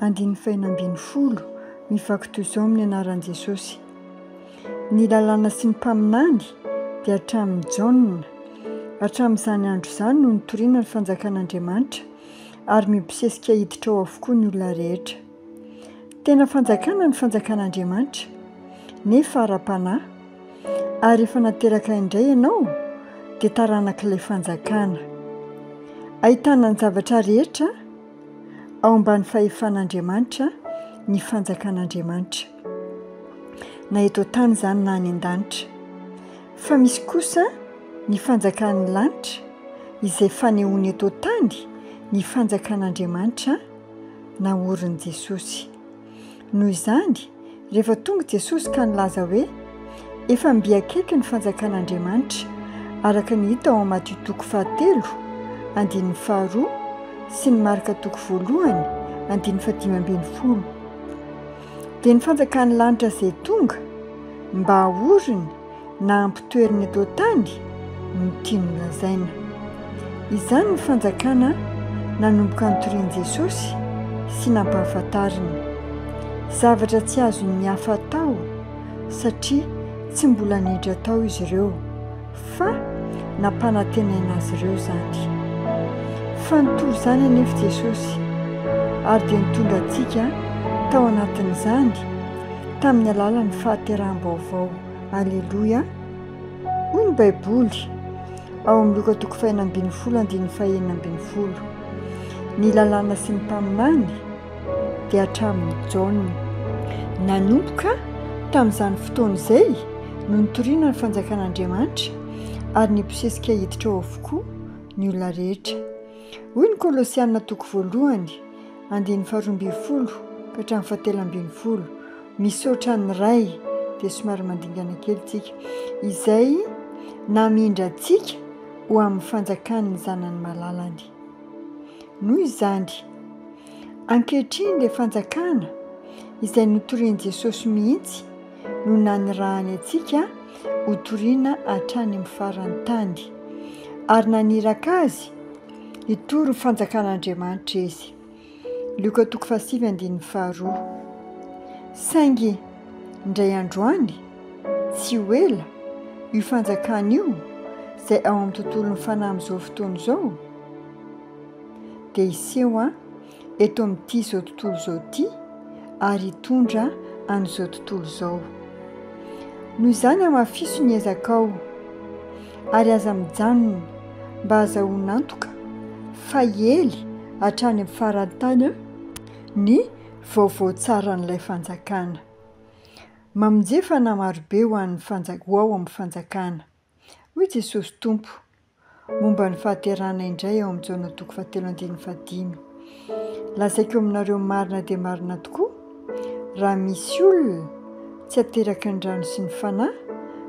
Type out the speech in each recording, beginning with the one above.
andininy fahenina ambin'ny folo mivaky toy izao amin'ny anaran'i Jesosy, Ny lalàna sy ny mpaminany dia hatramin'i Jaona, hatramin'izany andro izany no nitoriana ny fanjakan'Andriamanitra ary mibosesika hiditra ao avokoa ny olona rehetra. Tena fanjakana ny fanjakan'Andriamanitra, nefa ara-panahy, ary efa nateraka indray ianao dia taranak'ilay fanjakana. Ahitana ny zavatra rehetra. Ao ambany fahefan'Andriamanitra ny fanjakan'Andriamanitra, na eto an-tany izany na any an-danitra. Fa misy kosa ny fanjakan'ny lanitra, izay fanehoana eto an-tany ny fanjakan'Andriamanitra naorin'i Jesosy. Noho izany, rehefa tonga i Jesosy ka nilaza hoe, Efa mby akaiky ny fanjakan'Andriamanitra, araka ny hita ao amin'ny Matio toko fahatelo, andininy faharoa, sy ny Marka toko voalohany, andininy fahadimy ambin'ny folo, dia ny fanjakan'ny lanitra izay tonga mba haoriny, na ampitoeriny eto an-tany no tiany lazaina. Izany ny fanjakana nanomboka nitorian'i Jesosy sy nampahafantariny. Zavatra tsy azon'ny hafa atao satria tsy mbola niditra tao izy ireo, fa nampanantenaina azy ireo izany. Fa nitory izany anefa Jesosy, ary dia nitondra antsika tao anatin'izany tamin'ny alalan'ny fahateraham-baovao. Aleloia! Hoy ny Baiboly ao amin'ny Loka toko fahenina ambin'ny folo andininy fahenina ambin'ny folo, Ny lalàna sy ny mpaminany dia hatramin'i Jaona. Nanomboka tamin'izany fotoana izay no nitoriana ny Fanjakan'Andriamanitra ary nibosesika hiditra ao avokoa ny olona rehetra. Hoy ny Kolosiana toko voalohany andininy faharoa ambin'ny folo ka hatramin'ny fahatelo ambin'ny folo, Misaotra an'i Ray, dia somary mandingana kely tsika, izay namindra antsika ho amin'ny fanjakan'ny zanany malalany. Noho izany, ankehitriny ilay fanjakana izay notorian'i Jesosy mihitsy no nanirahany antsika hotoriana hatrany amin'ny faran'ny tany, ary naniraka azy hitory ny fanjakan'Andriamanitra izy. Lioka toko fahasivy andininy faharoa Saingy indray andro any, tsy ho ela, io fanjakana io, izay ao amin'ny tontolon'ny fanahy amin'izao fotoana izao, dia hiseho eto amin'ity izao tontolo izao ity ary hitondra an'izao tontolo izao. Noho izany hamafiso ny ezakao. ary aza mijanona mba azahoan'antoka fa hiely hatrany amin'ny faran'ny tany ny vaovao tsaran'ilay fanjakana. Mamonjea fanahy marobe ho an'ny fanjak- ho ao amin'ny fanjakana. Hoy Jesosy Tompo momba ny fahaterahana indray ao amin'ny Jaona toko fahatelo andininy fahadimy. Lazaiko aminareo marina dia marina tokoa, raha misy olona tsy ateraky ny rano sy ny Fanahy,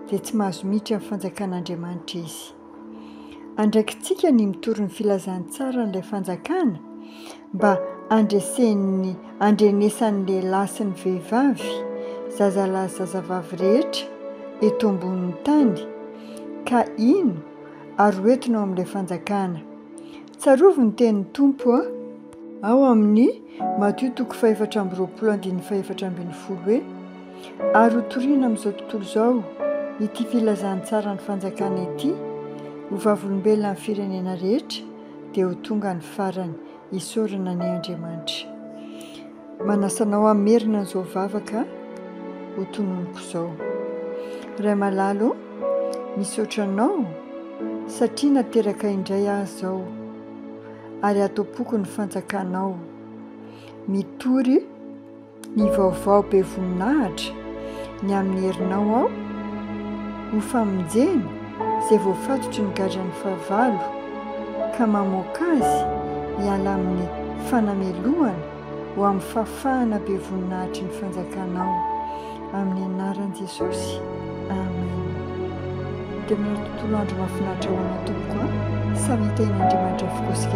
dia tsy mahazo miditra amin'ny fanjakan'Andriamanitra izy. Andraikitsika ny mitory ny filazantsaran'ilay fanjakana mba handresen'ny handrenesan'ny lehilahy sy ny vehivavy, zazalahy sy zazavavy rehetra eto ambonin'ny tany, ka hino ary ho entina ao amin'ilay fanjakana. Tsarovy ny tenin'ny Tompo a! ao amin'ny Matio toko fahefatra amby roapolo andininy fahefatra ambin'ny folo hoe, Ary ho toriana amin'izao tontolo izao ity filazantsaran'ny fanjakana ity ho vavolombelona amin'ny firenena rehetra, dia ho tonga ny farany, isaorana anie Andriamanitra. Manasa anao hamerina an'izao vavaka ho tononiko izao. Ray malala ô, misaotra anao satria nateraka indray aho izao ary ato am-poko ny fanjakanao. Mitory ny vaovao be voninahitra ny amin'ny herinao aho ho famonjena. izay voafatotry ny gadran'ny fahavalo ka mamoaka azy hiala amin'ny fanamelohana ho amin'ny fahafahana be voninahitry ny fanjakanao. Amin'ny anaran'i Jesosy, Amen. Dia manana tontolo andro mahafinaritra ho anao tompoko a! Samy hitahian'Andriamanitra avokoa isika rehetra.